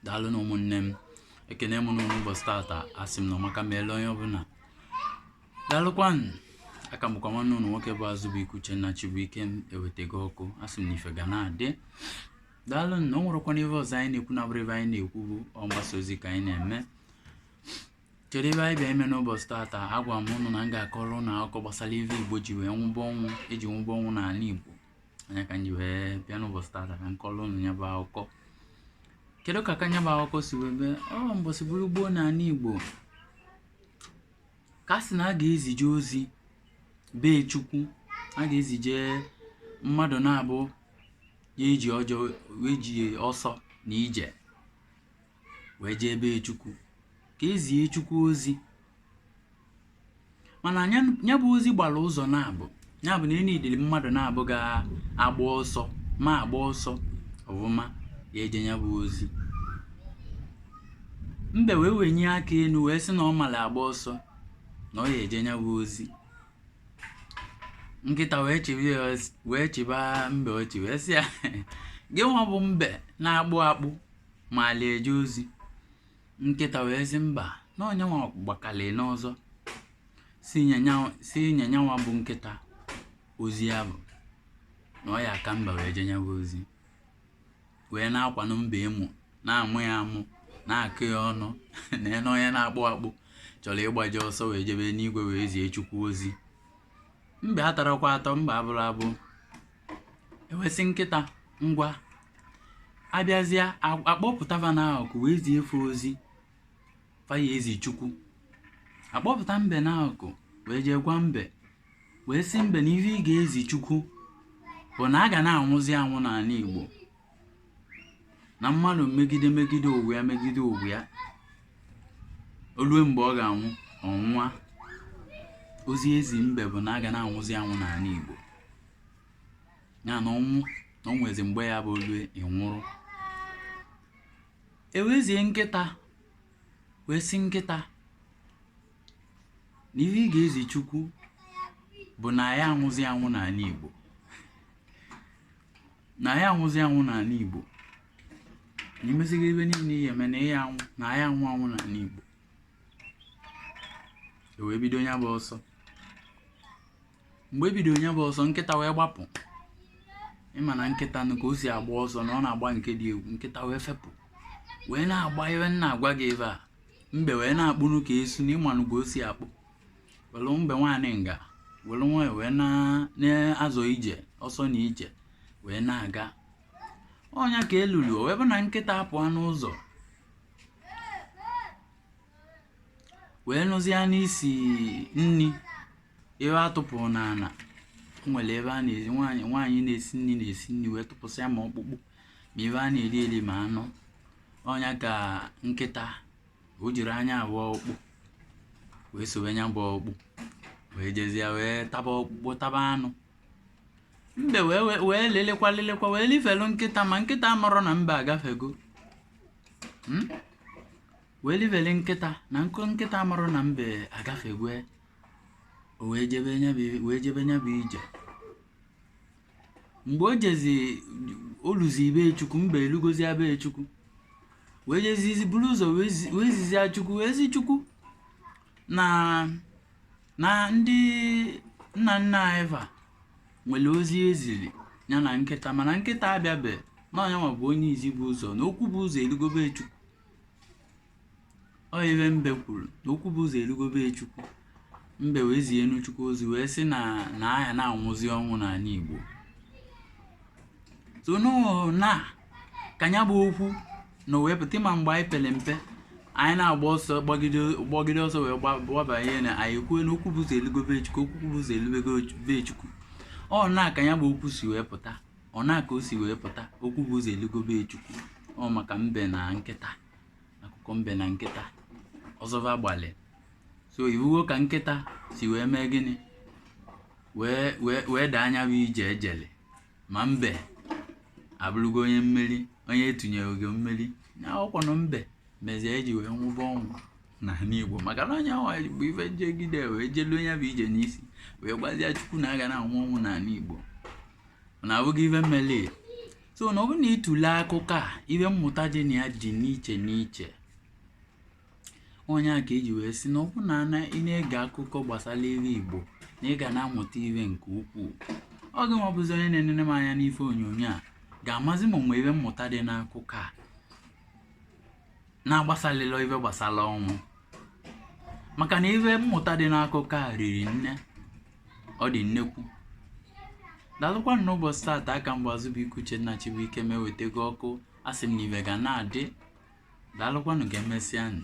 daalụnụ ụmụnne m ekene m ụnụ n'ụbọchị tata asị m na ọmaka meele onye ọbụla daalụkwanụ a ka m bụkwa nwanne ụnụ nwoke bụ azụbụike uchenna chibuikem ewetego ọkụ asị m na ife ga na-adị daalụnụ o nwerọkwanụ ihe ọzọ anyị na-ekwu na-abụrọ ife anyị na-ekwu bụ mgbasa ozi ka anyị na-eme kedu ife anyị bịa ime n'ụbọchị tata agwa m ụnụ na m ga-akọrọ ụnụ akụkọ gbasara ife igbo ji wee nwụba ọnwụ eji nwụba ọnwụ n'anị igbo ọ nya ka m ji wee bịa n'ụbọchị tata ka m kọlụ ụnụ ya bụ akụkọ kedu ka ka nya bụ akụkọ si wee bịa ọ mbọsị bụrụ gboo n'anị igbo ka a sị na a ga-ezije ozi be chukwu a ga-ezije mmadụ naabọ ya-eji ọjọọ eji ọsọ na ije wee jee be chukwu ka e zie chukwu ozi mana nya bụ ozi gbara ụzọ naabọ ya bụ na e nedili mmadụ naabọ ga-agba ọsọ ma agba ọsọ ọfụma ya-eje ya bụ ozi mbe wee wenye aka enu wee sị na ọ mara agba ọsọ na ọ ya eje ya bụ ozi nkịta wee chịba ya ọch- wee chịba mbe ọchị wee sị ya gị nwa bụ mbe na-akpụ akpụ maalị eje ozi nkịta wee sị mba na ọ nyanwa gbakalị n'ọsọ sị nye nyanwa bụ nkịta ozi ya bụ na ọ ya-aka mbe wee jee nya bụ ozi wee na-akwanụ mbe emu na-amụ ya amụ na-akọ ya ọnụ na nee onye na-akpụ akpụ chọrọ ịgbaje ọsọ wee jebe n'igwe wee zie chukwu ozi mba atarọkwa atọ mbe abụrọ abụ e wee sị nkịta ngwa a bịazịa kpọpụta va n'akụkụ wee zie fa ozi fa ya-ezi chukwu a kpọpụta mbe n'akụkụ wee jee gwa mbe wee sị mbe na ihe ị ga-ezi chukwu bụ na a ga na-anwụzi anwụ n'anị igbo na mmadụ megide megide ụwa ya megide ụwa ya o lue mgbe ọ ga-anwụ ọ nwụa ozi e zi mbe bụ na a ga na-anwụzi anwụ n'anị Igbo ya na ọnwụ na o nwezi mgbe a ya-abụ o lue ị nwụrụ e wee zie nkịta wee sị nkịta na ihe ị ga-ezi chukwu bụ na a ya anwụzi anwụ n'anị Igbo na a ya anwụzi anwụ n'anị Igbo na i mesigo ife niile ị ya-eme na ị ya anwụ na a ya anwụ anwụ n'anị Igbo e wee bido ya bụ ọsọ mgbe e bido nya bụ ọsọ nkịta wee gbapụ ị ma na nkịta nụ ka o si agba ọsọ na ọ na-agba nke dị egwu nkịta wee fepụ wee na-agba ebe m na-agwa gị ife a mbe wee na-akpụnụ ka esu na ị manụ ka o si akpụ welu mbe nwa anịga welu nwayọ wee na- na-azọ ije ọsọ na ije wee na-aga ọ nya ka e lulu o wee bụ na nkịta apụọ n'ụzọ wee nụzie nụ isi nni ife a tụpụrụ n'ala o nwere ebe a na-esi nwaanyị nwaanyị na-esi nni na-esi nni wee tụpụsịa ma ọkpụkpụ ma ife a na-eri eri ma anụ ọ nya ka nkịta o jiri nya bụ ọkpụ wee sowe nya bụ ọkpụ wee jezie wee taba ọkpụkpụ taba anụ mbe wee wee- wee lelekwa lelekwa wee lifelu nkịta ma nkịta amarọ na mbe agafego Hmm? wee livele nkịta na nkịta amarọ na mbe agafego o wee jebe nya bụ- wee jebe nya bụ ije mgbe o jezi o luzi be chukwu mbe elugozia be chukwu wee jezizi buru ụzọ wee zi- wee zizia chukwu wee zi chukwu na na ndị nna nna anyị fa nwere ozi e ziri ya na nkịta mana nkịta abịabe na ọ nya nwa bụ onye izi bu ụzọ na okwu bu ụzọ elugo be chukwu Ọ ife mbe kwuru na okwu bu ụzọ elugo be Chukwu mbe wee zie enu Chukwu ozi wee sị na na a ya na-anwụzi ọnwụ n'ala Igbo so na ka ya bụ okwu na wee pụta ị ma mgbe anyị pere mpe anyị na-agba ọsọ gbagide ọsọ wee gbabanye na anyị kwuo na okwu bu ụzọ elugo be Chukwu okwu bu ụzọ elugo be Chukwu ọ na ka ya bụ okwu si wee pụta ọ na ka o si wee pụta okwu bu ụzọ elugo be Chukwu ọ maka mbe na nkịta akụkọ mbe na nkịta ọsọ va gbalị so ị vụgo ka nkịta si wee mee gịnị wee wee wee daa nya bụ ije e jele ma mbe abụrụgo onye mmeri onye e tunyere ugo mmeri na ọkwanụ mbe mezie e ji wee nwụba ọnwụ n'ala igbo maka na ọ nya nwa bụ onye jegide wee jelu nya bụ ije n'isi wee gwazie chukwu na a ga na-anwụ ọnwụ n'ala igbo na abụghị ife meli so na ọ bụrụ na ị tụle akụkọ a ife mmụta dị na ya dị n'iche n'iche ọ nya ka e ji wee sị na ọ bụrụ na ana ị na-ege akụkọ gbasara ife igbo na ị ga na-amụta ife nke ukwuu ọ gị nwa bụzi onye na-enene m anya n'ife onyonyo a ga-amazi ma o nwe ife mmụta dị n'akụkọ a na-agbasalịlọ ife gbasara ọnwụ maka na ife mmụta dị n'akụkọ a riri nne ọ dị nnekwu daalụkwanụ n'ụbọchị taata a ka m bụ azụbụike uchenna chibuike m ewetago ọkụ asị m na ife ga na-adị daalụkwanụ ka emesịa nụ